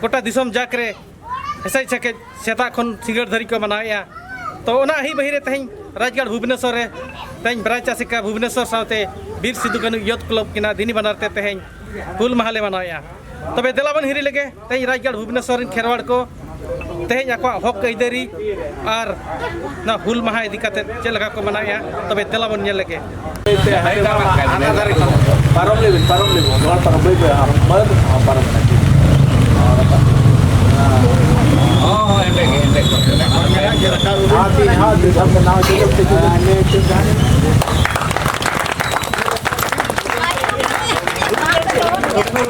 ᱜᱚᱴᱟ ᱫᱤᱥᱚᱢ ᱡᱟᱠ ᱨᱮ ᱮᱥᱮᱡ ᱥᱮᱠᱮᱡ ᱥᱮᱛᱟᱜ ᱠᱷᱚᱱ ᱥᱤᱸᱜᱟᱹᱲ ᱫᱷᱟᱹᱨᱤᱡ ᱠᱚ ᱢᱟᱱᱟᱣᱮᱫᱼᱟ ᱛᱚ ᱚᱱᱟ ᱟᱹᱦᱤ ᱵᱟᱹᱦᱤ ᱨᱮ ᱛᱮᱦᱮᱧ ᱨᱟᱡᱽᱜᱟᱲ ᱵᱷᱩᱵᱽᱱᱮᱥᱚᱨ ᱨᱮ ᱛᱮᱦᱮᱧ ᱵᱨᱟᱡᱽ ᱟᱥᱮᱠᱟ ᱵᱷᱩᱵᱽᱱᱮᱥᱚᱨ ᱥᱟᱶᱛᱮ ᱵᱤᱨ ᱥᱤᱫᱩ ᱠᱟᱹᱱᱩ ᱭᱚᱛᱷ ᱠᱞᱚᱵᱽ ᱠᱤᱱᱟ ᱫᱤᱱᱤ ᱵᱟᱱᱟᱨ ᱛᱮ ᱛᱮᱦᱮᱧ ᱦᱩᱞ ᱢᱟᱦᱟ ᱞᱮ ᱢᱟᱱᱟᱣᱮᱫᱼᱟ ᱛᱚᱵᱮ ᱫᱮᱞᱟ ᱵᱚᱱ ᱦᱤᱨᱤ ᱞᱮᱜᱮ ᱛᱮᱦᱮᱧ ᱨᱟᱡᱽᱜᱟᱲ ᱵᱷᱩᱵᱽᱱᱮᱥᱚᱨ ᱨᱮᱱ ᱠᱷᱮᱨᱣᱟᱲ ᱠᱚ ᱛᱮᱦᱮᱧ ᱟᱠᱚᱣᱟᱜ ᱦᱚᱠ ᱟᱹᱭᱫᱟᱹᱨᱤ ᱟᱨ ᱱᱚᱣᱟ ᱦᱩᱞ ᱢᱟᱦᱟ ᱤᱫᱤ ᱠᱟᱛᱮ ᱪᱮᱫ ᱞᱮᱠᱟ ᱠᱚ ᱢᱟᱱᱟᱣᱮᱜᱼᱟ ᱛᱚᱵᱮ ᱛᱮᱞᱟ ᱵᱚᱱ ᱧᱮᱞ ᱞᱮᱜᱮ ᱯᱟᱨᱚᱢ ᱞᱮᱵᱤᱱ ᱯᱟᱨᱚᱢ ᱞᱮᱵᱤᱱ ᱱᱚᱣᱟ ᱯᱟᱨᱚᱢ ᱵᱟᱹᱭ ᱵᱟᱹᱭ ᱟᱨ ᱵᱟᱹᱭ ᱯᱟᱨᱚᱢ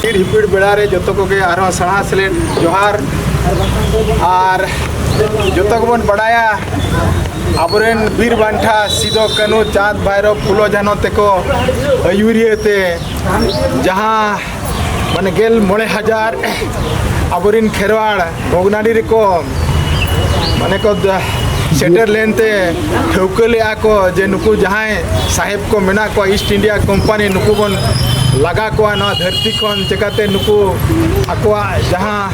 ᱠᱤᱲ ᱦᱤᱯᱤᱲ ᱵᱮᱲᱟ ᱨᱮ ᱡᱚᱛᱚ ᱠᱚᱜᱮ ᱟᱨᱦᱚᱸ ᱥᱟᱲᱦᱟ ᱥᱮᱞᱮᱫ ᱡᱚᱦᱟᱨ ᱟᱨ ᱡᱚᱛᱚ ᱜᱮᱵᱚᱱ ᱵᱟᱲᱟᱭᱟ ᱟᱵᱚᱨᱮᱱ ᱵᱤᱨ ᱵᱟᱱᱴᱷᱟ ᱥᱤᱫᱚ ᱠᱟᱹᱱᱩ ᱪᱟᱸᱫᱽ ᱵᱷᱟᱭᱨᱚ ᱯᱷᱩᱞᱚ ᱡᱷᱟᱱᱚ ᱛᱮᱠᱚ ᱟᱹᱭᱩᱨᱤᱭᱟᱹ ᱛᱮ ᱡᱟᱦᱟᱸ ᱢᱟᱱᱮ ᱜᱮᱞ ᱢᱚᱬᱮ ᱦᱟᱡᱟᱨ ᱟᱵᱚᱨᱮᱱ ᱠᱷᱮᱨᱣᱟᱲ ᱵᱷᱚᱜᱽᱱᱟᱰᱤ ᱨᱮᱠᱚ ᱢᱟᱱᱮ ᱠᱚ ᱥᱮᱴᱮᱨ ᱞᱮᱱᱛᱮ ᱴᱷᱟᱹᱣᱠᱟᱹ ᱞᱮᱜᱼᱟ ᱠᱚ ᱡᱮ ᱱᱩᱠᱩ ᱡᱟᱦᱟᱸᱭ ᱥᱟᱦᱮᱵᱽ ᱠᱚ ᱢᱮᱱᱟᱜ ᱠᱚᱣᱟ ᱤᱥᱴ ᱤᱱᱰᱤᱭᱟ ᱠᱳᱢᱯᱟᱱᱤ ᱱᱩᱠᱩ ᱵᱚᱱ ᱞᱟᱜᱟ ᱠᱚᱣᱟ ᱱᱚᱣᱟ ᱫᱷᱟᱹᱨᱛᱤ ᱠᱷᱚᱱ ᱪᱮᱠᱟᱛᱮ ᱱᱩᱠᱩ ᱟᱠᱚᱣᱟᱜ ᱡᱟᱦᱟᱸ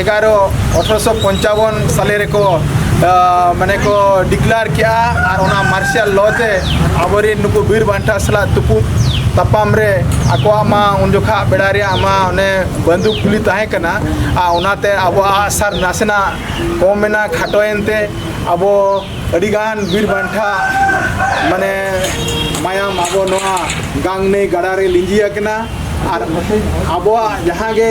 ᱮᱜᱟᱨᱚ ᱟᱴᱷᱨᱚᱥᱚ ᱯᱚᱧᱪᱟᱵᱚᱱ ᱥᱟᱞᱮ ᱨᱮᱠᱚ ᱢᱟᱱᱮ ᱠᱚ ᱰᱤᱠᱞᱟᱨ ᱠᱮᱜᱼᱟ ᱟᱨ ᱚᱱᱟ ᱢᱟᱨᱥᱟᱞ ᱞᱚ ᱛᱮ ᱟᱵᱚᱨᱮᱱ ᱱᱩᱠᱩ ᱵᱤᱨ ᱵᱟᱱᱴᱟ ᱥᱟᱞᱟᱜ ᱛᱩᱯᱩᱫ ᱛᱟᱯᱟᱢ ᱨᱮ ᱟᱠᱚᱣᱟᱜ ᱢᱟ ᱩᱱ ᱡᱚᱠᱷᱟ ᱵᱮᱲᱟ ᱨᱮᱭᱟᱜ ᱢᱟ ᱚᱱᱮ ᱵᱟᱱᱫᱩᱠ ᱜᱩᱞᱤ ᱛᱟᱦᱮᱸ ᱠᱟᱱᱟ ᱟᱨ ᱚᱱᱟᱛᱮ ᱟᱵᱚᱣᱟᱜ ᱟᱥᱟᱨ ᱱᱟᱥᱮᱱᱟᱜ ᱠᱚᱢ ᱮᱱᱟ ᱠᱷᱟᱴᱚᱭᱮᱱ ᱛᱮ ᱟᱵᱚ ᱟᱹᱰᱤᱜᱟᱱ ᱵᱤᱨ ᱵᱟᱱᱴᱟ ᱢᱟᱱᱮ ᱢᱟᱭᱟᱢ ᱟᱵᱚ ᱱᱚᱣᱟ ᱜᱟᱝ ᱱᱟᱹᱭ ᱜᱟᱰᱟ ᱨᱮ ᱞᱤᱸᱡᱤ ᱟᱠᱟᱱᱟ ᱟᱨ ᱟᱵᱚᱣᱟᱜ ᱡᱟᱦᱟᱸ ᱜᱮ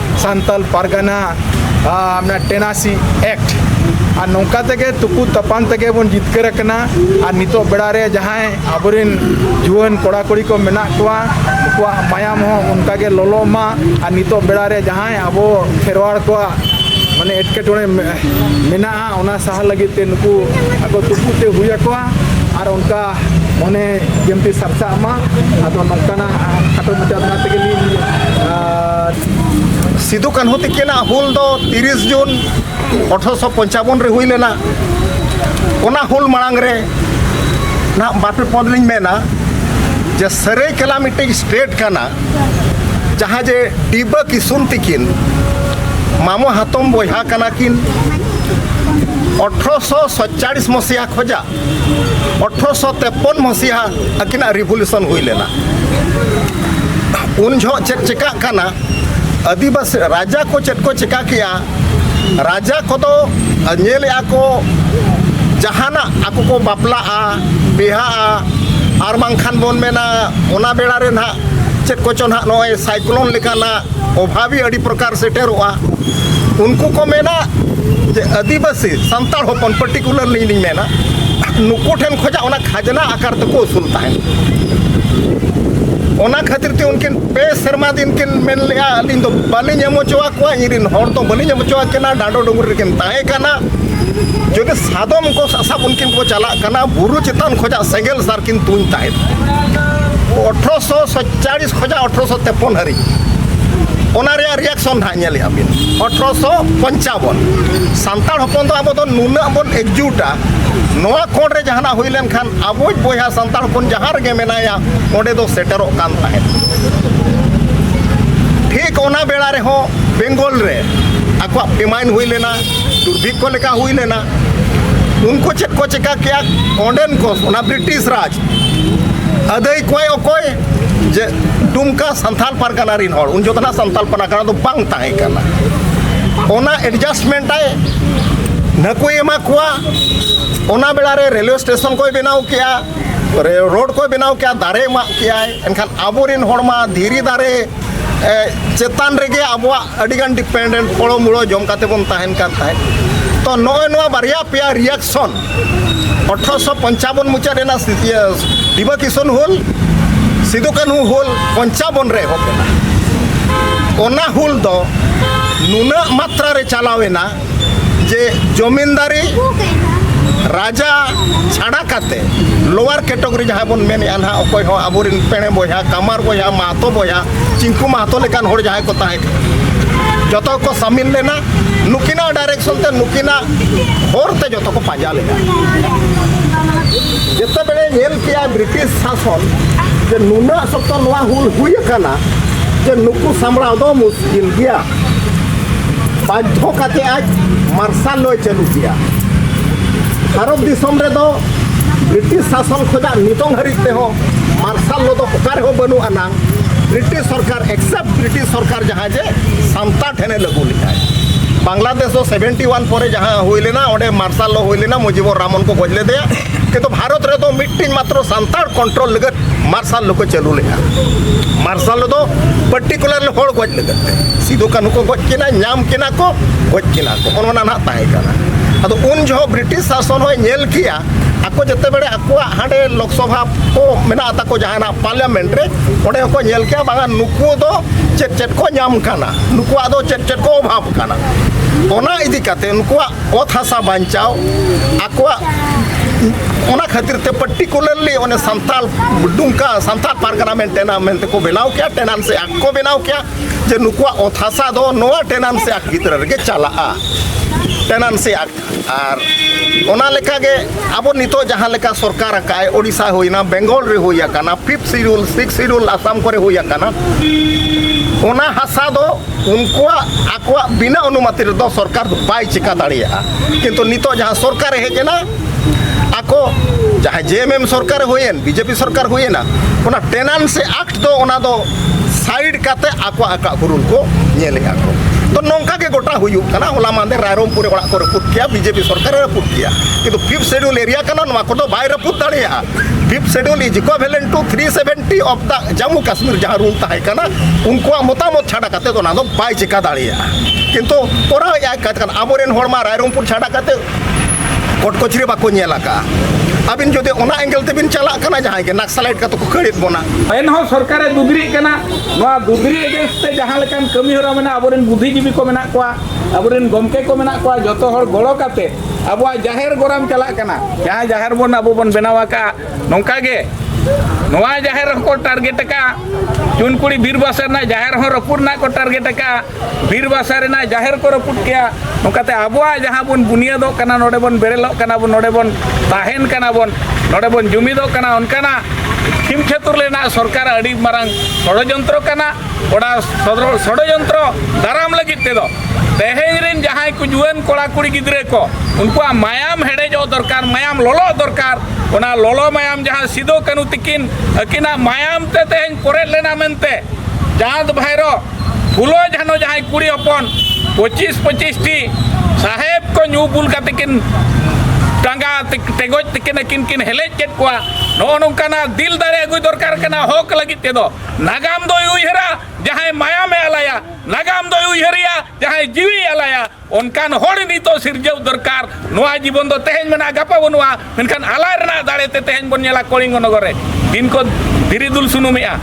ᱥᱟᱱᱛᱟᱞ ᱯᱟᱨᱜᱟᱱᱟ ᱢᱟᱱᱮ ᱴᱮᱱᱟᱥᱤ ᱮᱠᱴ ᱟᱨ ᱱᱚᱝᱠᱟ ᱛᱮᱜᱮ ᱛᱩᱯᱩ ᱛᱟᱯᱟᱱ ᱛᱮᱜᱮ ᱵᱚᱱ ᱡᱤᱛᱠᱟᱹᱨ ᱟᱠᱟᱱᱟ ᱟᱨ ᱱᱤᱛᱚᱜ ᱵᱮᱲᱟ ᱨᱮ ᱡᱟᱦᱟᱸᱭ ᱟᱵᱚᱨᱮᱱ ᱡᱩᱣᱟᱹᱱ ᱠᱚᱲᱟ ᱠᱩᱲᱤ ᱠᱚ ᱢᱮᱱᱟᱜ ᱠᱚᱣᱟ ᱩᱱᱠᱩᱣᱟᱜ ᱢᱟᱭᱟᱢ ᱦᱚᱸ ᱚᱱᱠᱟ ᱜᱮ ᱞᱚᱞᱚᱜ ᱢᱟ ᱟᱨ ᱱᱤᱛᱚᱜ ᱵᱮᱲᱟ ᱨᱮ ᱡᱟᱦᱟᱸᱭ ᱟᱵᱚ ᱠᱷᱮᱨᱣᱟᱲ ᱠᱚᱣᱟᱜ ᱢᱟᱱᱮ ᱮᱴᱠᱮᱴᱚᱬᱮ ᱢᱮᱱᱟᱜᱼᱟ ᱚᱱᱟ ᱥᱟᱦᱟ ᱞᱟᱹᱜᱤᱫ ᱛᱮ ᱱᱩᱠᱩ ᱟᱠᱚ ᱛᱩᱯᱩ ᱛᱮ ᱦᱩᱭ ᱟᱠᱚᱣᱟ ᱟᱨ ᱚᱱᱠᱟ ᱢᱚᱱᱮ ᱡᱮᱢᱛᱤ ᱥᱟᱨᱥᱟᱜ ᱢᱟ ᱟᱫᱚ ᱱᱚᱝᱠᱟᱱᱟᱜ ᱠᱷᱟᱴᱚ ᱢᱟᱪᱷᱟ ᱫᱷᱟᱨᱟ ᱛᱮᱜᱮ ᱞᱤᱧ ᱥᱤᱫᱩ ᱠᱟᱹᱱᱦᱩ ᱛᱤᱠᱤᱱᱟᱜ ᱦᱩᱞ ᱫᱚ ᱛᱤᱨᱤᱥ ᱡᱩᱱ ᱟᱴᱷᱨᱚᱥᱚ ᱯᱚᱧᱪᱟᱵᱚᱱ ᱨᱮ ᱦᱩᱭ ᱞᱮᱱᱟ ᱚᱱᱟ ᱦᱩᱞ ᱢᱟᱲᱟᱝ ᱨᱮ ᱱᱟᱦᱟᱜ ᱵᱟᱨᱯᱮ ᱯᱚᱫᱽ ᱞᱤᱧ ᱢᱮᱱᱟ ᱡᱮ ᱥᱟᱹᱨᱟᱹᱭᱠᱮᱞᱟ ᱢᱤᱫᱴᱤᱡ ᱥᱴᱮᱴ ᱠᱟᱱᱟ ᱡᱟᱦᱟᱸ ᱡᱮ ᱰᱤᱵᱟᱹ ᱠᱤᱥᱩᱱ ᱛᱤᱠᱤᱱ ᱢᱟᱢᱚ ᱦᱟᱛᱚᱢ ᱵᱚᱭᱦᱟ ᱠᱟᱱᱟ ᱠᱤᱱ ᱚᱴᱷᱨᱚᱥᱚ ᱥᱚᱛᱪᱟᱲᱤᱥ ᱢᱚᱥᱤᱦᱟ ᱠᱷᱚᱡᱟᱜ ᱚᱴᱷᱨᱚᱥᱚ ᱛᱮᱯᱚᱱ ᱢᱚᱥᱤᱦᱟ ᱟᱹᱠᱤᱱᱟᱜ ᱨᱤᱵᱷᱚᱞᱩᱥᱚᱱ ᱦᱩᱭ ᱞᱮᱱᱟ ᱩᱱ ᱡᱷᱚᱜ ᱪᱮᱫ ᱪᱮᱠᱟᱜ ᱠᱟᱱᱟ ᱟᱹᱫᱤᱵᱟᱹᱥᱤ ᱨᱟᱡᱟ ᱠᱚ ᱪᱮᱫ ᱠᱚ ᱪᱮᱠᱟ ᱠᱮᱜᱼᱟ ᱨᱟᱡᱟ ᱠᱚᱫᱚ ᱧᱮᱞᱮᱜᱼᱟ ᱠᱚ ᱡᱟᱦᱟᱱᱟᱜ ᱟᱠᱚ ᱠᱚ ᱵᱟᱯᱞᱟᱜᱼᱟ ᱵᱮᱦᱟᱜᱼᱟ ᱟᱨ ᱵᱟᱝᱠᱷᱟᱱ ᱵᱚᱱ ᱢᱮᱱᱟ ᱚᱱᱟ ᱵᱮᱲᱟ ᱨᱮ ᱱᱟᱦᱟᱜ ᱪᱮᱫ ᱠᱚᱪᱚ ᱱᱟᱦᱟᱜ ᱱᱚᱜᱼᱚᱭ ᱥᱟᱭᱠᱞᱳᱱ ᱞᱮᱠᱟᱱᱟᱜ ᱚᱵᱷᱟᱵᱤ ᱟᱹᱰᱤ ᱯᱨᱚᱠᱟᱨ ᱥᱮᱴᱮᱨᱚᱜᱼᱟ ᱩᱱᱠᱩ ᱠᱚ ᱢᱮᱱᱟ ᱡᱮ ᱟᱹᱫᱤᱵᱟᱹᱥᱤ ᱥᱟᱱᱛᱟᱲ ᱦᱚᱯᱚᱱ ᱯᱟᱨᱴᱤᱠᱩᱞᱟᱨ ᱞᱤᱧ ᱞᱤᱧ ᱢᱮᱱᱟ ᱱᱩᱠᱩ ᱴᱷᱮᱱ ᱠᱷᱚᱡᱟᱜ ᱚᱱᱟ ᱠᱷᱟᱡᱽᱱᱟ ᱟᱠᱟᱨ ᱛᱮᱠᱚ ᱩᱥᱩᱞ ᱛᱟᱦᱮᱱ ᱚᱱᱟ ᱠᱷᱟᱹᱛᱤᱨ ᱛᱮ ᱩᱱᱠᱤᱱ ᱯᱮ ᱥᱮᱨᱢᱟ ᱫᱤᱱ ᱠᱤᱱ ᱢᱮᱱ ᱞᱮᱜᱼᱟ ᱟᱹᱞᱤᱧ ᱫᱚ ᱵᱟᱹᱞᱤᱧ ᱮᱢ ᱦᱚᱪᱚᱣᱟᱠᱚᱣᱟ ᱤᱧᱨᱮᱱ ᱦᱚᱲ ᱫᱚ ᱵᱟᱹᱞᱤᱧ ᱮᱢ ᱦᱚᱪᱚᱣᱟᱠᱤᱱᱟ ᱰᱟᱸᱰᱚ ᱰᱩᱝᱨᱤ ᱨᱮᱠᱤᱱ ᱛᱟᱦᱮᱸ ᱠᱟᱱᱟ ᱡᱩᱫᱤ ᱥᱟᱫᱚᱢ ᱠᱚ ᱥᱟᱥᱟᱵ ᱩᱱᱠᱤᱱ ᱠᱚ ᱪᱟᱞᱟᱜ ᱠᱟᱱᱟ ᱵᱩᱨᱩ ᱪᱮᱛᱟᱱ ᱠᱷᱚᱡᱟᱜ ᱥᱮᱸᱜᱮᱞ ᱥᱟᱨ ᱠᱤᱱ ᱛᱩᱧ ᱛᱟᱦᱮᱸᱫ ᱟᱴᱷᱨᱚ ᱥᱚ ᱥᱚᱛᱪᱟᱲᱤᱥ ᱠᱷᱚᱡᱟᱜ ᱟᱴᱷᱨᱚ ᱥᱚ ᱛᱮᱯᱚᱱ ᱦᱟᱹᱨᱤᱡ ᱚᱱᱟ ᱨᱮᱭᱟᱜ ᱨᱤᱭᱟᱠᱥᱚᱱ ᱦᱟᱸᱜ ᱧᱮᱞᱮᱜᱼᱟ ᱵᱤᱱ ᱟᱴᱷᱨᱚ ᱥᱚ ᱯᱚᱧᱪᱟᱵᱚᱱ ᱥᱟᱱᱛᱟᱲ ᱦᱚᱯᱚᱱ ᱫᱚ ᱟᱵᱚ ᱫᱚ ᱱᱩᱱᱟᱹᱜ ᱵᱚᱱ ᱮᱠᱡᱩᱴᱟ ᱱᱚᱣᱟ ᱠᱚᱬ ᱨᱮ ᱡᱟᱦᱟᱱᱟᱜ ᱦᱩᱭ ᱞᱮᱱᱠᱷᱟᱱ ᱟᱵᱚᱭᱤᱡ ᱵᱚᱭᱦᱟ ᱥᱟᱱᱛᱟᱲ ᱦᱚᱯᱚᱱ ᱡᱟᱦᱟᱸ ᱨᱮᱜᱮ ᱢᱮᱱᱟᱭᱟ ᱚᱸᱰᱮ ᱫᱚ ᱥᱮᱴᱮᱨᱚᱜ ᱠᱟᱱ ᱛᱟᱦᱮᱸᱫ ᱴᱷᱤᱠ ᱚᱱᱟ ᱵᱮᱲᱟ ᱨᱮᱦᱚᱸ ᱵᱮᱝᱜᱚᱞ ᱨᱮ ᱟᱠᱚᱣᱟᱜ ᱯᱮᱢᱟᱭᱤᱱ ᱦᱩᱭ ᱞᱮᱱᱟ ᱫᱩᱨᱵᱷᱤᱠᱠᱷᱚ ᱞᱮᱠᱟ ᱦᱩᱭ ᱞᱮᱱᱟ ᱩᱱᱠᱩ ᱪᱮᱫ ᱠᱚ ᱪᱮᱠᱟ ᱠᱮᱭᱟ ᱚᱸᱰᱮᱱ ᱠᱚ ᱚᱱᱟ ᱵᱨᱤᱴᱤᱥ ᱨᱟᱡᱽ ᱟᱹᱫᱟᱹᱭ ᱠᱚᱭ ᱚᱠᱚᱭ ᱡᱮ ᱰᱩᱢᱠᱟ ᱥᱟᱱᱛᱟᱞ ᱯᱟᱨᱜᱟᱱᱟ ᱨᱤᱱ ᱦᱚᱲ ᱩᱱ ᱡᱚᱛᱚᱱᱟᱜ ᱥᱟᱱᱛᱟᱞ ᱯᱟᱨᱜᱟᱱᱟ ᱫᱚ ᱵᱟᱝ ᱛᱟᱦᱮᱸ ᱠᱟᱱᱟ ᱚᱱᱟ ᱮᱰᱡᱟᱥᱴᱢᱮᱱᱴ ᱟᱭ ᱱᱟᱹᱠᱩᱭ ᱮᱢᱟ ᱠᱚᱣᱟ ᱚᱱᱟ ᱵᱮᱲᱟ ᱨᱮ ᱨᱮᱞᱣᱮ ᱥᱴᱮᱥᱚᱱ ᱠᱚᱭ ᱵᱮᱱᱟᱣ ᱠᱮᱜᱼᱟ ᱨᱳᱰ ᱠᱚᱭ ᱵᱮᱱᱟᱣ ᱠᱮᱜᱼᱟ ᱫᱟᱨᱮ ᱢᱟᱜ ᱠᱮᱜᱼᱟᱭ ᱮᱱᱠᱷᱟᱱ ᱟᱵᱚᱨᱮᱱ ᱦᱚᱲ ᱢᱟ ᱫᱷᱤᱨᱤ ᱫᱟᱨᱮ ᱪᱮᱛᱟᱱ ᱨᱮᱜᱮ ᱟᱵᱚᱣᱟᱜ ᱟᱹᱰᱤᱜᱟᱱ ᱰᱤᱯᱮᱱᱰᱮᱱᱴ ᱯᱚᱲᱚ ᱢᱩᱲᱚ ᱡᱚᱢ ᱠᱟᱛᱮ ᱵᱚᱱ ᱛᱟᱦᱮᱱ ᱠᱟᱱ ᱛᱟᱦᱮᱸᱫ ᱛᱚ ᱱᱚᱜᱼᱚᱭ ᱱᱚᱣᱟ ᱵᱟᱨᱭᱟ ᱯᱮᱭᱟ ᱨᱤᱭᱟᱠᱥᱚᱱ ᱟᱴᱷᱨᱚᱥᱚ ᱯᱚᱧᱪᱟᱵᱚᱱ ᱢᱩᱪᱟᱹᱫ ᱨᱮᱱᱟᱜ ᱰᱤᱵᱟᱹ ᱠᱤᱥᱚᱱ ᱦᱩᱞ ᱥᱤᱫᱩ ᱠᱟᱹᱱᱦᱩ ᱦᱩᱞ ᱯᱚᱧᱪᱟᱵᱚᱱ ᱨᱮ ᱮᱦᱚᱵ ᱞᱮᱱᱟ ᱚᱱᱟ ᱦᱩᱞ ᱫᱚ ᱱᱩᱱᱟᱹᱜ ᱢᱟᱛᱨᱟ ᱨᱮ ᱪᱟᱞᱟᱣᱮᱱᱟ ᱡᱮ ᱡᱚᱢᱤᱱᱫᱟᱨᱤ ᱨᱟᱡᱟ ᱪᱷᱟᱲᱟ ᱠᱟᱛᱮ ᱞᱳᱣᱟᱨ ᱠᱮᱴᱮᱜᱚᱨᱤ ᱡᱟᱦᱟᱸ ᱵᱚᱱ ᱢᱮᱱᱮᱜᱼᱟ ᱱᱟᱦᱟᱜ ᱚᱠᱚᱭ ᱦᱚᱸ ᱟᱵᱚᱨᱮᱱ ᱯᱮᱬᱮ ᱵᱚᱭᱦᱟ ᱠᱟᱢᱟᱨ ᱵᱚᱭᱦᱟ ᱢᱟᱦᱟᱛᱚ ᱵᱚᱭᱦᱟ ᱪᱤᱝᱠᱩ ᱢᱟᱦᱟᱛᱚ ᱞᱮᱠᱟᱱ ᱦᱚᱲ ᱡᱟᱦᱟᱸᱭ ᱠᱚ ᱛᱟᱦᱮᱸ ᱠᱟᱱᱟ ᱡᱚᱛᱚ ᱠᱚ ᱥᱟᱢᱤᱞ ᱞᱮᱱᱟ ᱱᱩᱠᱤᱱᱟᱜ ᱰᱟᱭᱨᱮᱠᱥᱚᱱ ᱛᱮ ᱱᱩᱠᱤᱱᱟᱜ ᱦᱚᱨ ᱛᱮ ᱡᱚᱛᱚ ᱠᱚ ᱯᱟᱸᱡᱟ ᱞᱮᱫᱟ ᱡᱚᱛᱚ ᱵᱮᱲᱮ ᱧᱮᱞ ᱠᱮᱜᱼᱟ ᱵᱨᱤᱴᱤᱥ ᱥᱟᱥᱚᱱ ᱡᱮ ᱱᱩᱱᱟᱹᱜ ᱥᱚᱠᱛᱚ ᱱᱚᱣᱟ ᱦᱩᱞ ᱦᱩᱭ ᱟᱠᱟᱱᱟ ᱡᱮ ᱱᱩᱠᱩ ᱥᱟᱢᱵᱲᱟᱣ ᱫᱚ ᱢᱩᱥᱠᱤᱞ ᱜᱮᱭᱟ ᱵᱟᱫᱽᱫᱷᱚ ᱠᱟᱛᱮ ᱟᱡ ᱢᱟᱨᱥᱟᱞ ᱞᱚᱭ ᱪᱟᱹᱞᱩ ᱠᱮᱜᱼᱟ ᱵᱷᱟᱨᱚᱛ ᱫᱤᱥᱚᱢ ᱨᱮᱫᱚ ᱵᱨᱤᱴᱤᱥ ᱥᱟᱥᱚᱱ ᱠᱷᱚᱱᱟᱜ ᱱᱤᱛᱚᱝ ᱦᱟᱹᱨᱤᱡ ᱛᱮᱦᱚᱸ ᱢᱟᱨᱥᱟᱞ ᱞᱚ ᱫᱚ ᱚᱠᱟ ᱨᱮᱦᱚᱸ ᱵᱟᱹᱱᱩᱜ ᱟᱱᱟᱝ ᱵᱨᱤᱴᱤᱥ ᱥᱚᱨᱠᱟᱨ ᱮᱠᱥᱮᱯᱴ ᱵᱨᱤᱴᱤᱥ ᱥᱚᱨᱠᱟᱨ ᱡᱟᱦᱟᱸ ᱡᱮ ᱥᱟᱱᱛᱟᱲ ᱴᱷᱮᱱᱮ ᱞᱟᱹᱜᱩ ᱞᱮᱫᱟᱭ ᱵᱟᱝᱞᱟᱫᱮᱥ ᱫᱚ ᱥᱮᱵᱷᱮᱱᱴᱤ ᱳᱣᱟᱱ ᱯᱚᱨᱮ ᱡᱟᱦᱟᱸ ᱦᱩᱭ ᱞᱮᱱᱟ ᱚᱸᱰᱮ ᱢᱟᱨᱥᱟᱞ ᱞᱚ ᱦᱩᱭ ᱞᱮᱱᱟ ᱢᱩᱡᱤᱵᱩᱨ ᱨᱟᱦᱢᱚᱱ ᱠᱚ ᱜᱚᱡ ᱞᱮᱫᱮᱭᱟ ᱠᱤᱱᱛᱩ ᱵᱷᱟᱨᱚᱛ ᱨᱮᱫᱚ ᱢᱤᱫᱴᱤᱡ ᱢᱟᱛᱨᱚ ᱥᱟᱱᱛᱟᱲ ᱠᱚᱱᱴᱨᱳᱞ ᱞᱟᱹᱜᱤᱫ ᱢᱟᱨᱥᱟᱞ ᱞᱚ ᱠᱚ ᱪᱟᱹᱞᱩ ᱞᱮᱫᱼᱟ ᱢᱟᱨᱥᱟᱞ ᱞᱚ ᱫᱚ ᱯᱟᱨᱴᱤᱠᱩᱞᱟᱨ ᱦᱚᱲ ᱜᱚᱡ ᱞᱟᱹᱜᱤᱫ ᱛᱮ ᱥᱤᱫᱩ ᱠᱟᱹᱱᱦᱩ ᱠᱚ ᱜᱚᱡ ᱠᱤᱱᱟ ᱧᱟᱢ ᱠᱤᱱᱟ ᱠᱚ ᱜᱚᱡ ᱠᱤᱱᱟ ᱠᱚ ᱚᱱᱟ ᱱᱟᱦᱟᱜ ᱛᱟᱦᱮᱸ ᱠᱟᱱᱟ ᱟᱫᱚ ᱩᱱ ᱡᱚᱦᱚᱜ ᱵᱨᱤᱴᱤᱥ ᱥᱟᱥᱚᱱ ᱦᱚᱸᱭ ᱧᱮᱞ ᱠᱮᱜᱼᱟ ᱟᱠᱚ ᱡᱮᱛᱮ ᱵᱮᱲᱮ ᱟᱠᱚᱣᱟᱜ ᱦᱟᱸᱰᱮ ᱞᱳᱠᱥᱚᱵᱷᱟ ᱠᱚ ᱢᱮᱱᱟᱜ ᱛᱟᱠᱚ ᱡᱟᱦᱟᱱᱟᱜ ᱯᱟᱨᱞᱤᱭᱟᱢᱮᱱᱴ ᱨᱮ ᱚᱸᱰᱮ ᱦᱚᱸᱠᱚ ᱧᱮᱞ ᱠᱮᱜᱼᱟ ᱵᱟᱝᱟ ᱱᱩᱠᱩ ᱫᱚ ᱪᱮᱫ ᱪᱮᱫ ᱠᱚ ᱧᱟᱢ ᱠᱟᱱᱟ ᱱᱩᱠᱩᱣᱟᱜ ᱫᱚ ᱪᱮᱫ ᱪᱮᱫ ᱠᱚ ᱚᱵᱷᱟᱵᱽ ᱠᱟᱱᱟ ᱚᱱᱟ ᱤᱫᱤ ᱠᱟᱛᱮ ᱱᱩᱠᱩᱣᱟᱜ ᱚᱛ ᱦᱟᱥᱟ ᱵᱟᱧᱪᱟᱣ ᱟᱠᱚᱣᱟᱜ ᱚᱱᱟ ᱠᱷᱟᱹᱛᱤᱨ ᱛᱮ ᱯᱟᱨᱴᱤᱠᱩᱞᱟᱨᱞᱤ ᱚᱱᱮ ᱥᱟᱱᱛᱟᱲ ᱰᱩᱢᱠᱟ ᱥᱟᱱᱛᱟᱲ ᱯᱟᱨᱜᱟᱱᱟ ᱢᱮᱱ ᱴᱮᱱᱟ ᱢᱮᱱᱛᱮ ᱠᱚ ᱵᱮᱱᱟᱣ ᱠᱮᱭᱟ ᱴᱮᱱᱟᱱ ᱥᱮ ᱟᱠ ᱠᱚ ᱵᱮᱱᱟᱣ ᱠᱮᱭᱟ ᱡᱮ ᱱᱩᱠᱩᱣᱟᱜ ᱚᱛ ᱦᱟᱥᱟ ᱫᱚ ᱱᱚᱣᱟ ᱴᱮᱱᱟᱱ ᱥᱮ ᱟᱠ ᱵᱷᱤᱛᱨᱤ ᱨᱮᱜᱮ ᱪᱟᱞᱟᱜᱼᱟ ᱴᱮᱱᱟᱱ ᱥᱮ ᱟᱠ ᱟᱨ ᱚᱱᱟ ᱞᱮᱠᱟᱜᱮ ᱟᱵᱚ ᱱᱤᱛᱚᱜ ᱡᱟᱦᱟᱸ ᱞᱮᱠᱟ ᱥᱚᱨᱠᱟᱨ ᱟᱠᱟᱫ ᱳᱰᱤᱥᱟ ᱦᱩᱭᱱᱟ ᱵᱮᱝᱜᱚᱞ ᱨᱮ ᱦᱩᱭ ᱟᱠᱟᱱᱟ fifth schedule sixth schedule Assam ᱠᱚᱨᱮ ᱦᱩᱭ ᱟᱠᱟᱱᱟ ᱚᱱᱟ ᱦᱟᱥᱟ ᱫᱚ ᱩᱱᱠᱩᱣᱟᱜ ᱟᱠᱚᱣᱟᱜ ᱵᱤᱱᱟᱹ ᱚᱱᱩᱢᱟᱛᱤ ᱨᱮᱫᱚ ᱥᱚᱨᱠᱟᱨ ᱫᱚ ᱵᱟᱭ ᱪᱮᱠᱟ ᱫᱟᱲᱮᱭᱟᱜᱼᱟ ᱠᱤᱱᱛᱩ ᱱᱤᱛᱚᱜ ᱡᱟᱦᱟᱸ ᱥᱚᱨᱠᱟᱨᱮ ᱦᱮᱡ ᱮᱱᱟ ᱟᱠᱚ ᱡᱟᱦᱟᱸ ᱡᱮ ᱮᱢ ᱮᱢ ᱥᱚᱨᱠᱟᱨ ᱦᱩᱭᱮᱱ ᱵᱤᱡᱮᱯᱤ ᱥᱚᱨᱠᱟᱨ ᱦᱩᱭᱮᱱᱟ ᱚᱱᱟ ᱴᱮᱱᱟᱱᱥ ᱟᱠᱴ ᱫᱚ ᱚᱱᱟ ᱫᱚ ᱥᱟᱭᱤᱰ ᱠᱟᱛᱮ ᱟᱠᱚᱣᱟᱜ ᱟᱠᱟᱜ ᱦᱩᱨᱩᱱ ᱠᱚ ᱧᱮᱞᱮᱜᱼᱟ ᱠᱚ ᱛᱚ ᱱᱚᱝᱠᱟ ᱜᱮ ᱜᱚᱴᱟ ᱦᱩᱭᱩᱜ ᱠᱟᱱᱟ ᱦᱚᱞᱟ ᱢᱟᱸᱫᱮ ᱨᱟᱭᱨᱚᱝᱯᱩᱨ ᱚᱲᱟᱜ ᱠᱚ ᱨᱟᱹᱯᱩᱫ ᱠᱮᱭᱟ ᱵᱤᱡᱮᱯᱤ ᱥᱚᱨᱠᱟᱨᱮ ᱨᱟᱹᱯᱩᱫ ᱠᱮᱭᱟ ᱠᱤᱱᱛᱩ ᱯᱷᱤᱯᱛᱷ ᱥᱮᱰᱩᱞ ᱮᱨᱤᱭᱟ ᱠᱟᱱᱟ ᱱᱚᱣᱟ ᱠᱚᱫᱚ ᱵᱟᱭ ᱨᱟᱹᱯᱩᱫ ᱫᱟᱲᱮᱭᱟᱜᱼᱟ ᱯᱷᱤᱯ schedule is equivalent to three seventy of the Jammu Kashmir ᱡᱟᱦᱟᱸ ᱨᱩᱞ ᱛᱟᱦᱮᱸ ᱠᱟᱱᱟ ᱩᱱᱠᱩᱣᱟᱜ ᱢᱚᱛᱟᱢᱚᱛ ᱪᱷᱟᱰᱟ ᱠᱟᱛᱮ ᱚᱱᱟ ᱫᱚ ᱵᱟᱭ ᱪᱮᱠᱟ ᱫᱟᱲᱮᱭᱟᱜᱼᱟ ᱠᱤᱱᱛᱩ ᱠᱚᱨᱟᱣ ᱮᱫᱟᱭ ᱠᱟᱛᱷᱟ ᱠᱟᱱᱟ ᱟᱵᱚᱨᱮᱱ ᱦᱚᱲ ᱢᱟ ᱨᱟᱭᱨᱚᱝᱯᱩᱨ ᱪᱷᱟᱰᱟ ᱠᱟᱛᱮ ᱠᱚᱴ ᱠᱚᱪᱨᱤ ᱵᱟᱠᱚ ᱧᱮᱞ ᱟᱠᱟᱜᱼᱟ ᱟᱹᱵᱤᱱ ᱡᱩᱫᱤ ᱚᱱᱟ ᱮᱝᱜᱮᱞ ᱛᱮᱵᱤᱱ ᱪᱟᱞᱟᱜ ᱠᱟᱱᱟ ᱡᱟᱦᱟᱸᱭ ᱜᱮ ᱱᱟᱠᱥᱟᱞᱟᱭᱤᱴ ᱠᱟᱛᱮ ᱠᱚ ᱠᱷᱟᱹᱲᱮᱫ ᱵᱚᱱᱟ ᱮᱱᱦᱚᱸ ᱥᱚᱨᱠᱟᱨᱮ ᱫᱩᱫᱽᱨᱤᱜ ᱠᱟᱱᱟ ᱱᱚᱣᱟ ᱫᱩᱫᱽᱨᱤ ᱮᱜᱮᱱᱥᱴ ᱛᱮ ᱡᱟᱦᱟᱸ ᱞᱮᱠᱟᱱ ᱠᱟᱹᱢᱤ ᱦᱚᱨᱟ ᱢᱮᱱᱟᱜᱼᱟ ᱟᱵᱚᱨᱮᱱ ᱵᱩᱫᱽᱫᱷᱤᱡᱤᱵᱤ ᱠᱚ ᱢᱮᱱᱟᱜ ᱠᱚᱣᱟ ᱟᱵᱚᱨᱮᱱ ᱜᱚᱢᱠᱮ ᱠᱚ ᱢᱮᱱᱟᱜ ᱠᱚᱣᱟ ᱡᱚᱛᱚ ᱦᱚᱲ ᱜᱚᱲᱚ ᱠᱟᱛᱮ ᱟᱵᱚᱣᱟᱜ ᱡᱟᱦᱮᱨ ᱜᱚᱨᱟᱢ ᱪᱟᱞᱟᱜ ᱠᱟᱱᱟ ᱡᱟᱦᱟᱸ ᱡᱟᱦᱮᱨ ᱵᱚᱱ ᱟᱵᱚ ᱵᱚᱱ ᱵᱮᱱᱟᱣ ᱟᱠᱟᱫ ᱱᱚᱝᱠᱟ ᱜᱮ ᱱᱚᱣᱟ ᱡᱟᱦᱮᱨ ᱦᱚᱸᱠᱚ ᱴᱟᱨᱜᱮᱴ ᱟᱠᱟᱫ ᱪᱩᱱᱠᱩᱲᱤ ᱵᱤᱨᱵᱟᱥᱟ ᱨᱮᱱᱟᱜ ᱡᱟᱦᱮᱨ ᱦᱚᱸ ᱨᱟᱹᱯᱩᱫ ᱨᱮᱱᱟᱜ ᱠᱚ ᱴᱟᱨᱜᱮᱴ ᱟᱠᱟᱫ ᱵᱤᱨᱵᱟᱥᱟ ᱨᱮᱱᱟᱜ ᱡᱟᱦᱮᱨ ᱠᱚ ᱨᱟᱹᱯᱩᱫ ᱠᱮᱭᱟ ᱱᱚᱝᱠᱟᱛᱮ ᱟᱵᱚᱣᱟᱜ ᱡᱟᱦᱟᱸ ᱵᱚᱱ ᱵᱩᱱᱤᱭᱟᱫᱚᱜ ᱠᱟᱱᱟ ᱱᱚᱰᱮ ᱵᱚᱱ ᱵᱮᱨᱮᱞᱚᱜ ᱠᱟᱱᱟ ᱵᱚᱱ ᱱᱚᱰᱮ ᱵᱚᱱ ᱛᱟᱦᱮᱱ ᱠᱟᱱᱟ ᱵᱚᱱ ᱱᱚᱰᱮ ᱵᱚᱱ ᱡᱩᱢᱤᱫᱚᱜ ᱠᱟᱱᱟ ᱚᱱᱠᱟᱱᱟᱜ ᱠᱷᱤᱢ ᱪᱷᱟᱹᱛᱩᱨ ᱨᱮᱱᱟᱜ ᱥᱚᱨᱠᱟᱨ ᱟᱹᱰᱤ ᱢᱟᱨᱟᱝ ᱥᱚᱲᱚᱡᱚᱱᱛᱨᱚ ᱠᱟᱱᱟ ᱚᱱᱟ ᱥᱚᱲᱚᱡᱚᱱᱛᱨᱚ ᱫᱟᱨᱟᱢ ᱞᱟᱹᱜᱤᱫ ᱛᱮᱫᱚ ᱛᱮᱦᱮᱧ ᱨᱮᱱ ᱡᱟᱦᱟᱸᱭ ᱠᱚ ᱡᱩᱣᱟᱹᱱ ᱠᱚᱲᱟ ᱠᱩᱲᱤ ᱜᱤᱫᱽᱨᱟᱹ ᱠᱚ ᱩᱱᱠᱩᱣᱟᱜ ᱢᱟᱭᱟᱢ ᱦᱮᱰᱮᱡᱚᱜ ᱫᱚᱨᱠᱟᱨ ᱢᱟᱭᱟᱢ ᱞᱚᱞᱚᱜ ᱫᱚᱨᱠᱟᱨ ᱚᱱᱟ ᱞᱚᱞᱚ ᱢᱟᱭᱟᱢ ᱡᱟᱦᱟᱸ ᱥᱤᱫᱩ ᱠᱟᱹᱱᱩ ᱛᱤᱠᱤᱱ ᱟᱹᱠᱤᱱᱟᱜ ᱢᱟᱭᱟᱢ ᱛᱮ ᱛᱮᱦᱮᱧ ᱯᱚᱨᱮᱫ ᱞᱮᱱᱟ ᱢᱮᱱᱛᱮ ᱪᱟᱸᱫᱽ ᱵᱷᱟᱭᱨᱚ ᱯᱷᱩᱞᱚ ᱡᱷᱟᱱᱚ ᱡᱟᱦᱟᱸᱭ ᱠᱩᱲᱤ ᱦᱚᱯᱚᱱ ᱯᱚᱸᱪᱤᱥ ᱯᱚᱸᱪᱤᱥᱴᱤ ᱥᱟᱦᱮᱵ ᱠᱚ ᱧᱩ ᱵᱩᱞ ᱠᱟᱛᱮ ᱠᱤᱱ ᱴᱟᱸᱜᱟ ᱴᱮᱸᱜᱚᱡ ᱛᱤᱠᱤᱱ ᱟᱹᱠᱤᱱ ᱠᱤᱱ ᱦᱮᱞᱮᱡ ᱠᱮᱫ ᱠᱚᱣᱟ ᱱᱚᱜᱼᱚ ᱱᱚᱝᱠᱟᱱᱟᱜ ᱫᱤᱞ ᱫᱟᱲᱮ ᱟᱹᱜᱩᱭ ᱫᱚᱨᱠᱟᱨ ᱠᱟᱱᱟ ᱦᱚᱸᱠ ᱞᱟᱹᱜᱤᱫ ᱛᱮᱫᱚ ᱱᱟᱜᱟᱢ ᱫᱚᱭ ᱩᱭᱦᱟᱹᱨᱟ ᱡᱟᱦᱟᱸᱭ ᱢᱟᱭᱟᱢᱮ ᱟᱞᱟᱭᱟ ᱱᱟᱜᱟᱢ ᱫᱚᱭ ᱩᱭᱦᱟᱹᱨᱮᱭᱟ ᱡᱟᱦᱟᱸᱭ ᱡᱤᱣᱤ ᱟᱞᱟᱭᱟ ᱚᱱᱠᱟᱱ ᱦᱚᱲ ᱱᱤᱛᱚᱜ ᱥᱤᱨᱡᱟᱹᱣ ᱫᱚᱨᱠᱟᱨ ᱱᱚᱣᱟ ᱡᱤᱵᱚᱱ ᱫᱚ ᱛᱮᱦᱮᱧ ᱢᱮᱱᱟᱜᱼᱟ ᱜᱟᱯᱟ ᱵᱟᱹᱱᱩᱜᱼᱟ ᱢᱮᱱᱠᱷᱟᱱ ᱟᱞᱟᱭ ᱨᱮᱱᱟᱜ ᱫᱟᱲᱮ ᱛᱮ ᱛᱮᱦᱮᱧ ᱵᱚᱱ ᱧᱮᱞᱟ ᱠᱚᱞᱤᱝᱜᱚ ᱱᱚᱜᱚᱨ ᱨᱮ ᱫᱤᱱ ᱠᱚ ᱫᱷᱤᱨᱤ ᱫᱩᱞ ᱥᱩᱱᱩᱢᱮᱜᱼᱟ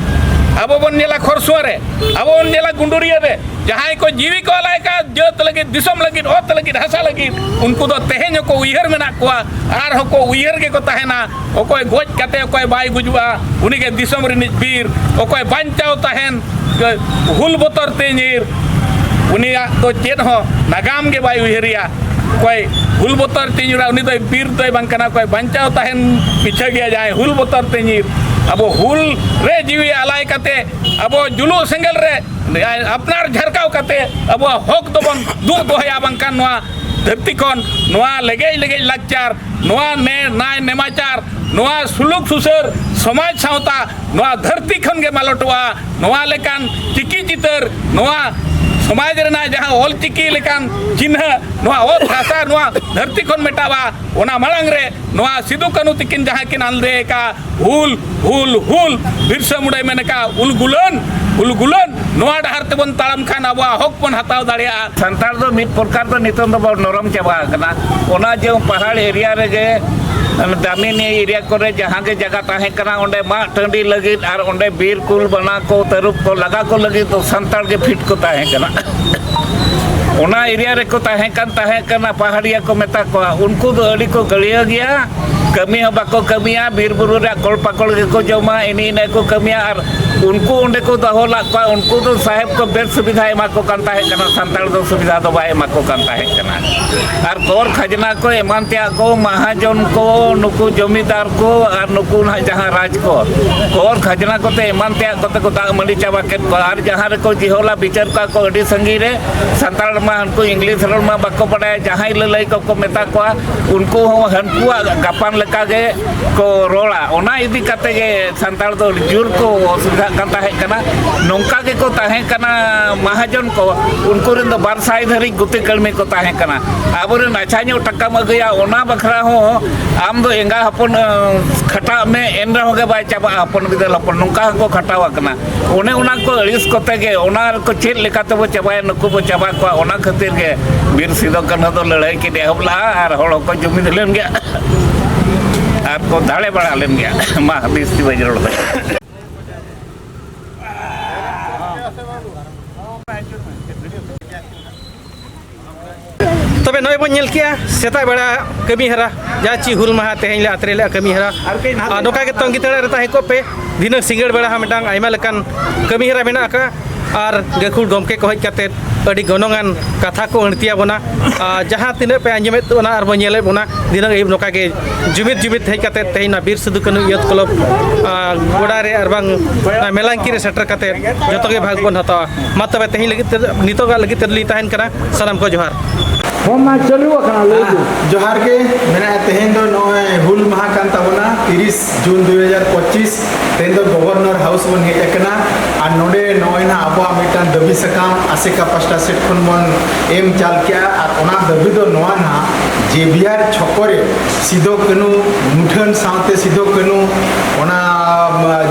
ᱟᱵᱚ ᱵᱚᱱ ᱧᱮᱞᱟ ᱠᱷᱚᱨᱥᱩᱣᱟᱹ ᱨᱮ ᱟᱵᱚ ᱵᱚᱱ ᱧᱮᱞᱟ ᱜᱩᱸᱰᱩᱨᱤᱭᱟᱹ ᱨᱮ ᱡᱟᱦᱟᱸᱭ ᱠᱚ ᱡᱤᱣᱤ ᱠᱚ ᱟᱞᱟᱭ ᱠᱟᱜ ᱡᱟᱹᱛ ᱞᱟᱹᱜᱤᱫ ᱫᱤᱥᱚᱢ ᱞᱟᱹᱜᱤᱫ ᱚᱛ ᱞᱟᱹᱜᱤᱫ ᱦᱟᱥᱟ ᱞᱟᱹᱜᱤᱫ ᱩᱱᱠᱩ ᱫᱚ ᱛᱮᱦᱮᱧ ᱦᱚᱸᱠᱚ ᱩᱭᱦᱟᱹᱨ ᱢᱮᱱᱟᱜ ᱠᱚᱣᱟ ᱟᱨ ᱦᱚᱸᱠᱚ ᱩᱭᱦᱟᱹᱨ ᱜᱮᱠᱚ ᱛᱟᱦᱮᱱᱟ ᱚᱠᱚᱭ ᱜᱚᱡ ᱠᱟᱛᱮ ᱚᱠᱚᱭ ᱵᱟᱭ ᱜᱩᱡᱩᱜᱼᱟ ᱩᱱᱤᱜᱮ ᱫᱤᱥᱚᱢ ᱨᱤᱱᱤᱡ ᱵᱤᱨ ᱚᱠᱚᱭ ᱵᱟᱧᱪᱟᱣ ᱛᱟᱦᱮᱱ ᱦᱩᱞ ᱵᱚᱛᱚᱨ ᱛᱮ ᱧᱤᱨ ᱩᱱᱤᱭᱟᱜ ᱫᱚ ᱪᱮᱫ ᱦᱚᱸ ᱱᱟᱜᱟᱢ ᱜᱮ ᱵᱟᱭ ᱩᱭᱦᱟᱹᱨᱮᱭᱟ ᱚᱠᱚᱭ ᱦᱩᱞ ᱵᱚᱛᱚᱨ ᱛᱮ ᱧᱤᱨᱟ ᱩᱱᱤ ᱫᱚᱭ ᱵᱤᱨ ᱫᱚᱭ ᱵᱟᱝ ᱠᱟᱱᱟ ᱚᱠᱚᱭ ᱵᱟᱧᱪᱟᱣ ᱛᱟᱦᱮᱱ ᱯᱤᱪᱷᱟᱹ ᱜᱮᱭᱟ ᱡᱟᱦᱟᱸᱭ ᱦᱩᱞ ᱵᱚᱛᱚᱨ ᱛᱮ ᱧᱤᱨ ᱟᱵᱚ ᱦᱩᱞ ᱨᱮ ᱡᱤᱣᱤ ᱟᱞᱟᱭ ᱠᱟᱛᱮ ᱟᱵᱚ ᱡᱩᱞᱩᱜ ᱥᱮᱸᱜᱮᱞ ᱨᱮ ᱟᱯᱱᱟᱨ ᱡᱷᱟᱨᱠᱟᱣ ᱠᱟᱛᱮ ᱟᱵᱚᱣᱟᱜ ᱦᱚᱠ ᱫᱚᱵᱚᱱ ᱫᱩᱜ ᱫᱚᱦᱚᱭᱟ ᱵᱟᱝᱠᱷᱟᱱ ᱱᱚᱣᱟ ᱫᱷᱟᱹᱨᱛᱤ ᱠᱷᱚᱱ ᱱᱚᱣᱟ ᱞᱮᱜᱮᱡ ᱞᱮᱜᱮᱡ ᱞᱟᱠᱪᱟᱨ ᱱᱚᱣᱟ ᱱᱮ ᱱᱟᱭ ᱱᱮᱢᱟᱪᱟᱨ ᱱᱚᱣᱟ ᱥᱩᱞᱩᱠ ᱥᱩᱥᱟᱹᱨ ᱥᱚᱢᱟᱡᱽ ᱥᱟᱶᱛᱟ ᱱᱚᱣᱟ ᱫᱷᱟᱹᱨᱛᱤ ᱠᱷᱚᱱ ᱜᱮ ᱢᱟᱞᱚᱴᱚᱜᱼᱟ ᱱᱚᱣᱟ ᱞᱮᱠᱟᱱ ᱪᱤᱠᱤ ᱪᱤᱛᱟᱹᱨ ᱱᱚᱣᱟ ᱥᱚᱢᱟᱡᱽ ᱨᱮᱱᱟᱜ ᱡᱟᱦᱟᱸ ᱚᱞ ᱪᱤᱠᱤ ᱞᱮᱠᱟᱱ ᱪᱤᱱᱦᱟᱹ ᱱᱚᱣᱟ ᱚᱛ ᱦᱟᱥᱟ ᱱᱚᱣᱟ ᱫᱷᱟᱹᱨᱛᱤ ᱠᱷᱚᱱ ᱢᱮᱴᱟᱜᱼᱟ ᱚᱱᱟ ᱢᱟᱲᱟᱝ ᱨᱮ ᱱᱚᱣᱟ ᱥᱤᱫᱩ ᱠᱟᱹᱱᱩ ᱛᱤᱠᱤᱱ ᱡᱟᱦᱟᱸ ᱠᱤᱱ ᱟᱸᱫᱮ ᱟᱠᱟᱫ ᱦᱩᱞ ᱦᱩᱞ ᱦᱩᱞ ᱵᱤᱨᱥᱟ ᱢᱩᱰᱟᱭ ᱢᱮᱱ ᱟᱠᱟᱫ ᱩᱞ ᱜᱩᱞᱟᱹᱱ ᱩᱞ ᱜᱩᱞᱟᱹᱱ ᱱᱚᱣᱟ ᱰᱟᱦᱟᱨ ᱛᱮᱵᱚᱱ ᱛᱟᱲᱟᱢ ᱠᱷᱟᱱ ᱟᱵᱚᱣᱟᱜ ᱦᱚᱠ ᱵᱚᱱ ᱦᱟᱛᱟᱣ ᱫᱟᱲᱮᱭᱟᱜᱼᱟ ᱥᱟᱱᱛᱟᱲ ᱫᱚ ᱢᱤᱫ ᱯᱨᱚᱠᱟᱨ ᱫᱚ ᱱᱤᱛᱚᱝ ᱫᱚ ᱵᱚᱱ ᱱᱚᱨᱚᱢ ᱪᱟᱵᱟ ᱟᱠᱟᱱᱟ ᱚᱱᱟ ᱡᱮ ᱯᱟᱦᱟᱲ ᱮᱨᱤᱭᱟ ᱨᱮᱜᱮ ᱫᱟᱢᱤᱱ ᱮᱨᱤᱭᱟ ᱠᱚᱨᱮ ᱡᱟᱦᱟᱸ ᱜᱮ ᱡᱟᱭᱜᱟ ᱛᱟᱦᱮᱸ ᱠᱟᱱᱟ ᱚᱸᱰᱮ ᱢᱟᱜ ᱴᱟᱺᱰᱤ ᱞᱟᱹᱜᱤᱫ ᱟᱨ ᱚᱸᱰᱮ ᱵᱤᱨ ᱠᱩᱞ ᱵᱟᱱᱟ ᱠᱚ ᱛᱟᱹᱨᱩᱵ ᱠᱚ ᱞᱟᱜᱟ ᱠᱚ ᱞᱟᱹᱜᱤᱫ ᱫᱚ ᱥᱟᱱᱛᱟᱲ ᱜᱮ ᱯᱷᱤᱴ ᱠᱚ ᱛᱟᱦᱮᱸ ᱠᱟᱱᱟ ᱚᱱᱟ ᱮᱨᱤᱭᱟ ᱨᱮᱠᱚ ᱛᱟᱦᱮᱸ ᱠᱟᱱ ᱛᱟᱦᱮᱸ ᱠᱟᱱᱟ ᱯᱟᱦᱟᱲᱤᱭᱟ ᱠᱚ ᱢᱮᱛᱟ ᱠᱚᱣᱟ ᱩᱱᱠᱩ ᱫᱚ ᱟᱹᱰᱤ ᱠᱚ ᱜᱟᱹᱲᱤᱭᱟᱹ ᱜᱮᱭᱟ ᱠᱟᱹᱢᱤ ᱦᱚᱸ ᱵᱟᱠᱚ ᱠᱟᱹᱢᱤᱭᱟ ᱵᱤᱨ ᱵᱩᱨᱩ ᱨᱮᱭᱟᱜ ᱠᱚᱞ ᱯᱟᱠᱚᱲ ᱜᱮᱠᱚ ᱡᱚᱢᱟ ᱮᱱᱮ ᱤᱱᱟᱹ ᱠᱚ ᱠᱟᱹᱢᱤᱭᱟ ᱟᱨ ᱩᱱᱠᱩ ᱚᱸᱰᱮ ᱠᱚ ᱫᱚᱦᱚ ᱞᱟᱜ ᱠᱚᱣᱟ ᱩᱱᱠᱩ ᱫᱚ ᱥᱟᱦᱮᱵᱽ ᱠᱚ ᱵᱮᱥ ᱥᱩᱵᱤᱫᱷᱟ ᱮᱢᱟ ᱠᱚ ᱠᱟᱱ ᱛᱟᱦᱮᱸ ᱠᱟᱱᱟ ᱥᱟᱱᱛᱟᱲ ᱫᱚ ᱥᱩᱵᱤᱫᱷᱟ ᱫᱚ ᱵᱟᱭ ᱮᱢᱟ ᱠᱚ ᱠᱟᱱ ᱛᱟᱦᱮᱸ ᱠᱟᱱᱟ ᱟᱨ ᱠᱚᱨ ᱠᱷᱟᱡᱽᱱᱟ ᱠᱚ ᱮᱢᱟᱱ ᱛᱮᱭᱟᱜ ᱠᱚ ᱢᱟᱦᱟᱡᱚᱱ ᱠᱚ ᱱᱩᱠᱩ ᱡᱚᱢᱤᱫᱟᱨ ᱠᱚ ᱟᱨ ᱱᱩᱠᱩ ᱱᱟᱦᱟᱜ ᱡᱟᱦᱟᱸ ᱨᱟᱡᱽ ᱠᱚ ᱠᱚᱨ ᱠᱷᱟᱡᱽᱱᱟ ᱠᱚᱛᱮ ᱮᱢᱟᱱ ᱛᱮᱭᱟᱜ ᱠᱚᱛᱮ ᱠᱚ ᱫᱟᱜ ᱢᱟᱹᱰᱤ ᱪᱟᱵᱟ ᱠᱮᱫ ᱠᱚᱣᱟ ᱟᱨ ᱡᱟᱦᱟᱸ ᱨᱮᱠᱚ ᱡᱤᱦᱚᱞᱟ ᱵᱤᱪᱟᱹᱨ ᱠᱚᱣᱟ ᱠᱚ ᱟᱹᱰᱤ ᱥᱟᱺᱜᱤᱧ ᱨᱮ ᱥᱟᱱᱛᱟᱲ ᱢᱟ ᱩᱱᱠᱩ ᱤᱝᱞᱤᱥ ᱨᱚᱲ ᱢᱟ ᱵᱟᱠᱚ ᱵᱟᱰᱟᱭᱟ ᱡᱟᱦᱟᱸᱭ ᱞᱟᱹᱞᱟᱹᱭ ᱠᱚᱠᱚ ᱢᱮᱛᱟ ᱠᱚᱣᱟ ᱩᱱᱠᱩ ᱦᱚᱸ ᱦᱟᱹᱱᱠᱩᱣᱟᱜ ᱜᱟᱯᱟᱱ ᱞᱮᱠᱟᱜᱮ ᱠᱚ ᱨᱚᱲᱟ ᱚᱱᱟ ᱤᱫᱤ ᱠᱟᱛᱮ ᱜᱮ ᱥᱟᱱᱛᱟᱲ ᱫᱚ ᱡᱳᱨ ᱠᱚ ᱚᱥᱩᱵᱤᱫᱷᱟᱜ ᱠᱟᱱ ᱛᱟᱦᱮᱸ ᱠᱟᱱᱟ ᱱᱚᱝᱠᱟ ᱜᱮᱠᱚ ᱛᱟᱦᱮᱸ ᱠᱟᱱᱟ ᱢᱟᱦᱟᱡᱚᱱ ᱠᱚ ᱩᱱᱠᱩ ᱨᱮᱱ ᱫᱚ ᱵᱟᱨ ᱥᱟᱭ ᱫᱷᱟᱹᱨᱤᱡ ᱜᱩᱛᱤ ᱠᱟᱹᱲᱢᱤ ᱠᱚ ᱛᱟᱦᱮᱸ ᱠᱟᱱᱟ ᱟᱵᱚᱨᱮᱱ ᱟᱪᱷᱟ ᱧᱚᱜ ᱴᱟᱠᱟᱢ ᱟᱹᱜᱩᱭᱟ ᱚᱱᱟ ᱵᱟᱠᱷᱨᱟ ᱦᱚᱸ ᱟᱢ ᱫᱚ ᱮᱸᱜᱟ ᱦᱚᱯᱚᱱ ᱠᱷᱟᱴᱟᱜ ᱢᱮ ᱮᱱ ᱨᱮᱦᱚᱸ ᱜᱮ ᱵᱟᱭ ᱪᱟᱵᱟᱜᱼᱟ ᱦᱚᱯᱚᱱ ᱵᱤᱫᱟᱹᱞ ᱦᱚᱯᱚᱱ ᱱᱚᱝᱠᱟ ᱦᱚᱸᱠᱚ ᱠᱷᱟᱴᱟᱣ ᱟᱠᱟᱱᱟ ᱚᱱᱮ ᱚᱱᱟ ᱠᱚ ᱟᱹᱲᱤᱥ ᱠᱚᱛᱮ ᱜᱮ ᱚᱱᱟ ᱠᱚ ᱪᱮᱫ ᱞᱮᱠᱟ ᱛᱮᱵᱚ ᱪᱟᱵᱟᱭᱟ ᱱᱩᱠᱩ ᱵᱚ ᱪᱟᱵᱟ ᱠᱚᱣᱟ ᱚᱱᱟ ᱠᱷᱟᱹᱛᱤᱨ ᱜᱮ ᱵᱤᱨ ᱥᱤᱫᱚ ᱠᱟᱹᱱᱦᱩ ᱫᱚ ᱞᱟᱹᱲᱦᱟᱹᱭ ᱠᱤᱱ ᱮᱦᱚᱵ ᱞᱟᱜᱼᱟ ᱟᱨ ᱦᱚᱲ ᱦᱚᱸᱠᱚ ᱡᱩᱢᱤᱫ ᱞᱮᱱ ᱜᱮᱭᱟ ᱟᱨ ᱠᱚ ᱫᱟᱲᱮ ᱵᱟᱲᱟ ᱞᱮᱱ ᱜᱮᱭᱟ ᱢᱟ ᱵᱤᱥ ᱛᱤ ᱵᱟᱹᱧ ᱨᱚᱲ ᱫᱟᱲᱮᱭᱟᱜ ᱛᱚᱵᱮ ᱱᱚᱜᱼᱚᱭ ᱵᱚᱱ ᱧᱮᱞ ᱠᱮᱜᱼᱟ ᱥᱮᱛᱟᱜ ᱵᱮᱲᱟ ᱠᱟᱹᱢᱤ ᱦᱟᱨᱟ ᱡᱟᱦᱟᱸ ᱪᱮᱫ ᱦᱩᱞ ᱢᱟᱦᱟ ᱛᱮᱦᱮᱧ ᱞᱮ ᱟᱛᱨᱮ ᱞᱮᱜᱼᱟ ᱠᱟᱹᱢᱤ ᱦᱟᱨᱟ ᱟᱨ ᱱᱚᱝᱠᱟ ᱜᱮ ᱛᱚᱝᱜᱤ ᱛᱟᱲᱟ ᱨᱮ ᱛᱟᱦᱮᱸ ᱠᱚᱜ ᱯᱮ ᱫᱷᱤᱱᱟᱹᱝ ᱥᱤᱸᱜᱟᱹᱲ ᱵᱮᱲᱟ ᱦᱚᱸ ᱢᱤᱫᱴᱟᱝ ᱟᱭᱢᱟ ᱞᱮᱠᱟᱱ ᱠᱟᱹᱢᱤ ᱦᱟᱨᱟ ᱢᱮᱱᱟᱜ ᱟᱠᱟᱫᱼᱟ ᱟᱨ ᱜᱟᱹᱠᱷᱩᱲ ᱜᱚᱢᱠᱮ ᱠᱚ ᱦᱮᱡ ᱠᱟᱛᱮᱫ ᱟᱹᱰᱤ ᱜᱚᱱᱚᱝᱟᱱ ᱠᱟᱛᱷᱟ ᱠᱚ ᱟᱹᱬᱛᱤ ᱟᱵᱚᱱᱟ ᱟᱨ ᱡᱟᱦᱟᱸ ᱛᱤᱱᱟᱹᱜ ᱯᱮ ᱟᱸᱡᱚᱢᱮᱫ ᱵᱚᱱᱟ ᱟᱨ ᱵᱚᱱ ᱧᱮᱞᱮᱫ ᱵᱚᱱᱟ ᱫᱷᱤᱱᱟᱹᱝ ᱟᱹᱭᱩᱵ ᱱᱚᱝᱠᱟ ᱜᱮ ᱡᱩᱢᱤᱫ ᱡᱩᱢᱤᱫ ᱦᱮᱡ ᱠᱟᱛᱮᱫ ᱛᱮᱦᱮᱧ ᱱᱚᱣᱟ ᱵᱤᱨ ᱥᱤᱫᱩ ᱠᱟᱹᱱᱩ ᱤᱭᱩᱛᱷ ᱠᱞᱟᱵᱽ ᱜᱚᱰᱟ ᱨᱮ ᱟᱨ ᱵᱟᱝ ᱢᱮᱞᱟᱝᱠᱤ ᱨᱮ ᱥᱮᱴᱮᱨ ᱠᱟᱛᱮᱫ ᱡᱚᱛᱚ ᱜᱮ ᱵᱷᱟᱜᱽ ᱵᱚᱱ ᱦᱟᱛᱟᱣᱟ ᱢᱟ ᱛᱚᱵᱮ ᱛᱮᱦᱮᱧ ᱞᱟᱹᱜᱤᱫ ᱛᱮ ᱱᱤᱛᱚᱜᱟᱜ ᱞᱟᱹᱜᱤᱫ ᱛᱮᱞᱤᱧ ᱛᱟᱦᱮᱱ ᱠᱟᱱᱟ ᱥᱟᱱᱟᱢ ᱠᱚ ᱡᱚᱦᱟᱨ ᱯᱷᱳᱱ ᱢᱟ ᱪᱟᱹᱞᱩ ᱟᱠᱟᱱᱟ ᱞᱟᱹᱭ ᱵᱤᱱ ᱡᱚᱦᱟᱨ ᱜᱮ ᱢᱮᱱᱟᱜᱼᱟ ᱛᱮᱦᱮᱧ ᱫᱚ ᱱᱚᱜᱼᱚᱭ ᱦᱩᱞ ᱢᱟᱦᱟ ᱠᱟᱱ ᱛᱟᱵᱚᱱᱟ ᱛᱤᱨᱤᱥ ᱡᱩᱱ ᱫᱩ ᱦᱟᱡᱟᱨ ᱯᱚᱸᱪᱤᱥ ᱛᱮᱦᱮᱧ ᱫᱚ ᱜᱚᱵᱷᱚᱨᱱᱚᱨ ᱦᱟᱣᱩᱥ ᱵᱚᱱ ᱦᱮᱡ ᱟᱠᱟᱱᱟ ᱟᱨ ᱱᱚᱰᱮ ᱱᱚᱜᱼᱚᱭ ᱱᱟ ᱟᱵᱚᱣᱟᱜ ᱢᱤᱫᱴᱟᱝ ᱫᱟᱹᱵᱤ ᱥᱟᱠᱟᱢ ᱟᱥᱮᱠᱟ ᱯᱟᱥᱴᱟ ᱥᱮᱫ ᱠᱷᱚᱱ ᱵᱚᱱ ᱮᱢ ᱪᱟᱞ ᱠᱮᱜᱼᱟ ᱟᱨ ᱚᱱᱟ ᱫᱟᱹᱵᱤ ᱫᱚ ᱱᱚᱣᱟ ᱱᱟᱦᱟᱜ ᱡᱮ ᱵᱤᱦᱟᱨ ᱪᱷᱚᱠᱚ ᱨᱮ ᱥᱤᱫᱚ ᱠᱟᱹᱱᱩ ᱢᱩᱴᱷᱟᱹᱱ ᱥᱟᱶᱛᱮ ᱥᱤᱫᱚ ᱠᱟᱹᱱᱩ ᱚᱱᱟ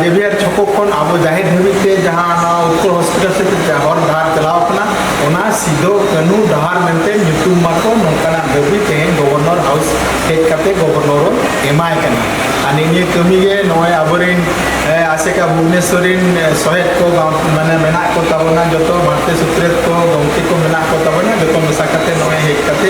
ᱡᱮᱵᱤᱭᱟᱨ ᱪᱷᱚᱠᱚ ᱠᱷᱚᱱ ᱟᱵᱚ ᱡᱟᱦᱮᱨ ᱫᱷᱟᱹᱵᱤᱡ ᱛᱮ ᱡᱟᱦᱟᱸ ᱱᱚᱣᱟ ᱩᱛᱠᱚᱲ ᱦᱚᱥᱯᱤᱴᱟᱞ ᱥᱮᱫ ᱦᱚᱨ ᱰᱟᱦᱟᱨ ᱪᱟᱞᱟᱣ ᱠᱟᱱᱟ ᱚᱱᱟ ᱥᱤᱫᱚ ᱠᱟᱹᱱᱩ ᱰᱟᱦᱟᱨ ᱢᱮᱱᱛᱮ ᱧᱩᱛᱩᱢ ᱢᱟᱠᱚ ᱱᱚᱝᱠᱟᱱᱟᱜ ᱫᱟᱹᱵᱤ ᱛᱮᱦᱮᱧ ᱜᱚᱵᱷᱚᱨᱱᱚᱨ ᱦᱟᱣᱩᱥ ᱦᱮᱡ ᱠᱟᱛᱮ ᱜᱚᱵᱷᱚᱨᱱᱚᱨ ᱮᱢᱟᱭ ᱠᱟᱱᱟ ᱟᱨ ᱱᱤᱭᱟᱹ ᱠᱟᱹᱢᱤ ᱜᱮ ᱱᱚᱜᱼᱚᱭ ᱟᱵᱚᱨᱮᱱ ᱟᱥᱮᱠᱟ ᱵᱷᱩᱵᱽᱱᱮᱥᱚᱨ ᱨᱮᱱ ᱥᱚᱦᱮᱫ ᱠᱚ ᱢᱟᱱᱮ ᱢᱮᱱᱟᱜ ᱠᱚ ᱛᱟᱵᱚᱱᱟ ᱡᱚᱛᱚ ᱢᱟᱨᱛᱮ ᱥᱩᱛᱨᱮᱛ ᱠᱚ ᱜᱚᱢᱠᱮ ᱠᱚ ᱢᱮᱱᱟᱜ ᱠᱚ ᱛᱟᱵᱚᱱᱟ ᱡᱚᱛᱚ ᱢᱮᱥᱟ ᱠᱟᱛᱮ ᱱᱚᱜᱼᱚᱭ ᱦᱮᱡ ᱠᱟᱛᱮ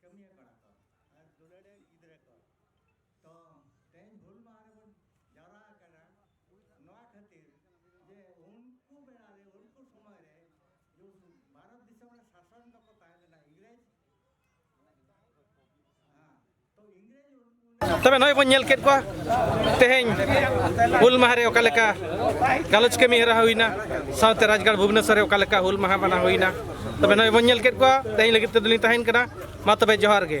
ᱠᱟᱹᱢᱤᱭᱟᱹ ᱠᱟᱱᱟ ᱠᱚ ᱟᱨ ᱫᱩᱞᱟᱹᱲᱮ ᱜᱤᱫᱽᱨᱟᱹ ᱠᱚ ᱛᱚ ᱛᱮᱦᱮᱧ ᱦᱩᱞ ᱢᱟᱦᱟ ᱨᱮᱵᱚᱱ ᱡᱟᱣᱨᱟ ᱟᱠᱟᱱᱟ ᱱᱚᱣᱟ ᱠᱷᱟᱹᱛᱤᱨ ᱡᱮ ᱩᱱᱠᱩ ᱵᱮᱲᱟ ᱨᱮ ᱩᱱᱠᱩ ᱥᱚᱢᱚᱭ ᱨᱮ ᱡᱮ ᱵᱷᱟᱨᱚᱛ ᱫᱤᱥᱚᱢ ᱨᱮ ᱥᱟᱥᱚᱱ ᱫᱚᱠᱚ ᱛᱟᱦᱮᱸ ᱞᱮᱱᱟ ᱤᱝᱨᱮᱡᱽ ᱦᱮᱸ ᱛᱚ ᱤᱝᱨᱮᱡᱽ ᱛᱚᱵᱮ ᱱᱚᱜᱼᱚᱭ ᱵᱚᱱ ᱧᱮᱞ ᱠᱮᱫ ᱠᱚᱣᱟ ᱛᱮᱦᱮᱧ ᱦᱩᱞ ᱢᱟᱦᱟ ᱨᱮ ᱚᱠᱟ ᱞᱮᱠᱟ ᱜᱟᱞᱚᱪ ᱠᱟᱹᱢᱤ ᱦᱚᱨᱟ ᱦᱩᱭᱱᱟ ᱥᱟᱶᱛᱮ ᱨᱟᱡᱽᱜᱟᱲ ᱵᱷᱩᱵᱽᱱᱮᱥᱚᱨ ᱨᱮ ᱚᱠᱟ ᱞᱮᱠᱟ ᱦᱩᱞ ᱢᱟᱦᱟ ᱢᱟᱱᱟᱣ ᱦᱩᱭᱱᱟ ᱛᱚᱵᱮ ᱱᱚᱜᱼᱚᱭ ᱵᱚᱱ ᱧᱮᱞ ᱠᱮᱫ ᱠᱚᱣᱟ ᱛᱮᱦᱮᱧ ᱞᱟᱹᱜᱤᱫ ᱛᱮᱫᱚ ᱞᱤᱧ ᱛᱟᱦᱮᱱ ᱠᱟᱱᱟ ᱢᱟ ᱛᱚᱵᱮ ᱡᱚᱦᱟᱨ ᱜᱮ